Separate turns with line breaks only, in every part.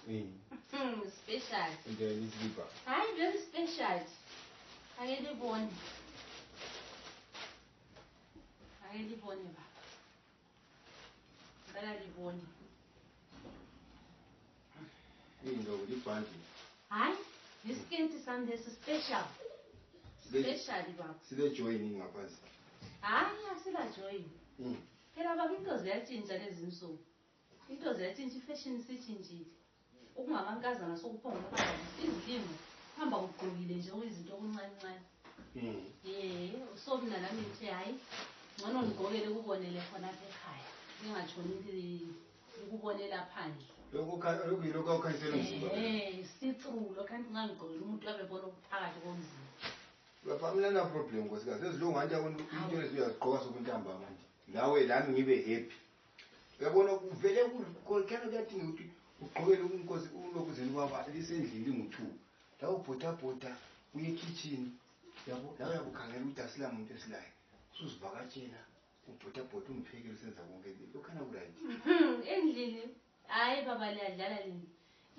Eh.
Hmm, special. Nje liziba. Hayi
very special. Ake libone. Ake libone ba. Ngicela libone. Yini lo libhandi?
Hayi,
yisikenti sami lesi special. Sibe- Special baba. Sibe join ngaphansi.
Hayi asila
join. Mm. Phela baba into ziyatshintsha lezi nsuku. Into ziyachinja ifashion isitshintshile. Okungamankazana sokuphonga ukuhamba izilimo hamba ugqokile nje okuyizinto okuncancane. Mm. Eh, so mina nami ngithe hayi ngcono ngigqokele kubonele khona apha ekhaya. Ngingatshoni ukubonela phandle. Lokhu lokuyilokho
okhanyisela umzimba. Eh, sithulu lokho
ngangigqokile umuntu abebona ukuphakathi komzimba. Lapha mina
na problem nkosikazi ezilungu anti into eziyazigqoka sokuntambama nje. Nawe lami ngibe happy. uyabona kuvele kukhona kuyathi ngokuthi ugqokele umnkosi ulokuzeni kwaba lisendlini lingu-two lawo bhotabhota uye ekhitshini yabo lawo yakukhangela ukuthi asila muntu esilayo usuzivakatshela ubhotabhota umphekele usenza konke lokhana kurayi hmm, endlini
hhayi baba liyadlala lini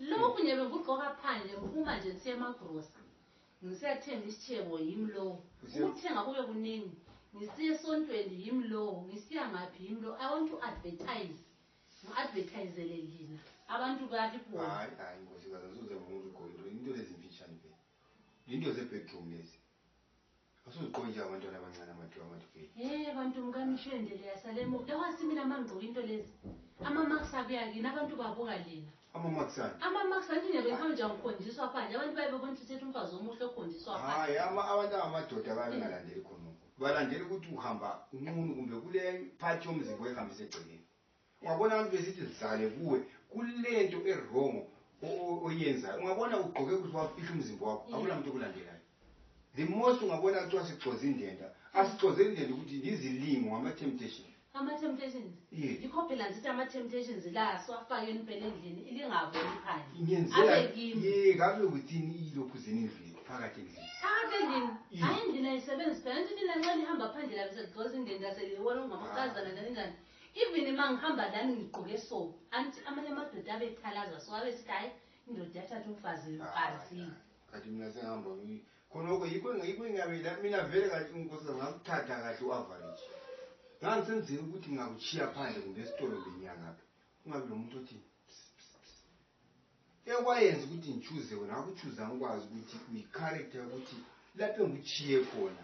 lokhu nje bengikugqoka phandle ngiphuma nje kusiyemagrosa Ngisiyathenga isitshebo, yimi lowo. Ngisiyas- Ukuthenga kube kuningi. Ngisiya esontweni, yimi lowo. Ngisiya ngaphi, yimi lowo. I want to advertise. Ngi-advertisele lina. Abantu balibone. hayi hayi nkosikazi
asoze ngibona ukuthi ugqoke into into lezi mfitshane vele into zebedroom lezi asuzigqoke njengabantwana abancane amadwe amadwe vele Hey bantu mkanishwendele
yasalemo. Yawasimila mangigqoka into lezi. Ama marks abuya kini abantu babuka lina. Ama-marks ani? Ama-marks anti nje bekuhambe nje angikhonjiswa phandle. Abantu baye bebona ukuthi uthetha umfazi omuhle okhonjiswa phandle. Hayi, ama- abantu
angamadoda baye bengalandeli khonoko. Balandela ukuthi uhamba unqunu kumbe kule part yomzimba oyihambisa egcekeni. Ungabona abantu besithi zidlale kuwe, kulento erongo o- o- oyenzayo. Ungabona ugqoke kuhle wafihla umzimba wakho, Mm. akulamuntu okulandelayo. The most ungabona kuthiwa sigcoze indenda. Asigcozeli indenda ukuthi yizilimo, ngama-temptation. Ama-temptations. Yes.
Yikho phela ngithi ama-temptations la siwafakeni phela endlini ilingavumi phandle. Ngenzela Abe kimi. ye kabe within
ilokhu zenendlini phakathi endlini. Phakathi endlini. Yes. Hayi
endlini ayisebenzi phela. Ngithi mina nxa lihamba phandle labe seligcoza indeni laselibona ungamakazana njani njani. Even uma ngihamba lami ngigqoke so. Angithi amanye amadoda abethalaza so abe sithi hayi indoda yathatha umfazi Ah, mfazini. Kanti
mina sengihamba ngi- khonoko yiko yiko ingaveda mina vere kati ungosa ngakutata kati uaverage ngandisendzeri ukuthi ngakuchiya phandle kumbe esitolo benyangaphi ungabi lo muntu othi ekwayenza ukuthi ngichuze wena akuchuza ngikwazi ukuthi uyicharacter ukuthi lapho engichiye khona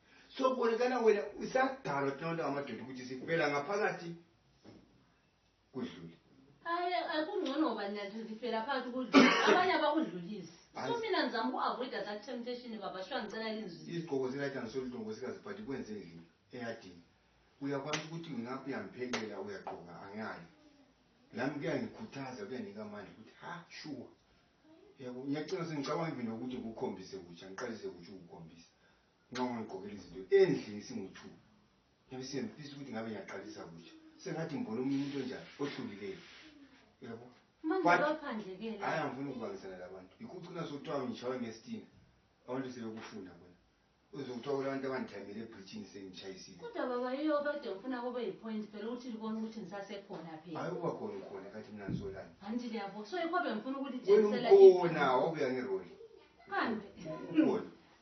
sobolekana wena usadalwa thina bantu amadoda ukuthi sifela ngaphakathi kudlule hayi
akungcono ngoba nathi sifela phakathi kudlule abanye abakudlulisi so mina ndizama uku-avoida that temptation baba shuwa ngicela linzwi izigqoko zilajanisoludongo
sikazibhadi kwenze ndlini eyadini uyakwazi ukuthi ngingaphi uyamphelela uyagqoka angayi nami kuyangikhuthaza kuyanika amandla ukuthi ha shuwa yabo ngiyacina sengicabanga ivini ukuthi ngikukhombise kutsha ngiqalise kutsha ukukhombisa nxa ungigqokela izinto endlini singu-two ngibe siyemfisa ukuthi ngabe ngiyaqalisa kutsha sengathi ngibona omunye umuntu onjani ohlukileyo yabo
hayi angifuni
ukubangisana labantu yikho ucina sokuthiwa ngitshawe ngestina abantu sebekufuna bona uzokuthiwa kulabantu abandithamele ebridgini sengitshayisile kodwa baba yiyo
kade ufuna kube yipoint phela ukuthi libona ukuthi ngisasekhona phela hayi ukuba khona ukhona kathi
mina ngisolani anti liyabo so
yikho bengifuna ukulitshengisela ukhona
wabuya ngeroli kambe
ukhona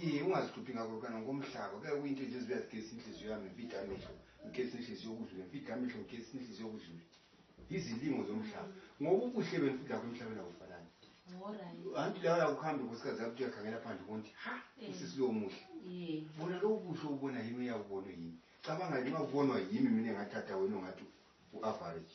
ye ungazihluphi ngako lukana ngomhlaba ke kuyinto nje ezibuya zigesi inhliziyo yami ngifide amehlo ngigesi inhliziyo okudlule ngifide amehlo ngigesi inhliziyo okudlule izilingo zomhlaba ngoba ubuhle benifida kho emhlabeni akufanani anti lawo yakuhambe nkosikazi yakuthi uyakhangela phandle konti ha eh. usisi lowo muhle bona lowo buhle ubona yimi uyakubonwe yimi cabanga nxa ubonwa yimi mina ngathatha wena ongathi u-average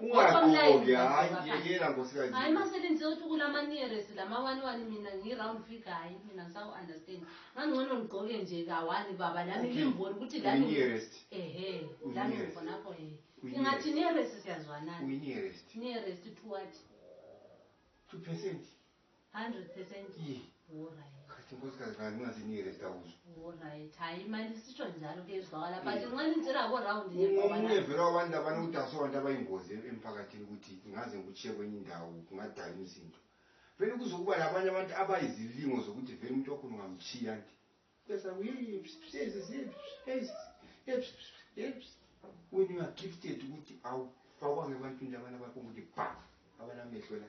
ungagqoki hayi
yena nkosikazi hayi masebenze uthi
kulama nearest lama one one mina ngi-round figure hayi mina ngisaku-understand ngangcono ngigqoke nje kawani baba lami ngimboni ukuthi laminearest ehe
lami
ngifonakho he ingathi nearest siyazwanani nearest
two what
two
percent 100% Yee.
Alright.
Khathi
nkosikazi kanti
ungazinike le zitawuzo Alright. Hayi
manje sisho njalo kuyezwakala but Yee. nxa nitshela ko round nje ngoba ungomunye la- vele wabantu
labana udase wabantu abayingozi em- emphakathini ukuthi ngaze ngikutshiye kwenye indawo kungadala imisindo vele kuzokuba labanye abantu abayizilingo zokuthi vele umuntu wakho ungamtshiya nti wena ungagifted ukuthi awufakwanga ebantwini labana abakunguthi ba abalamehlo la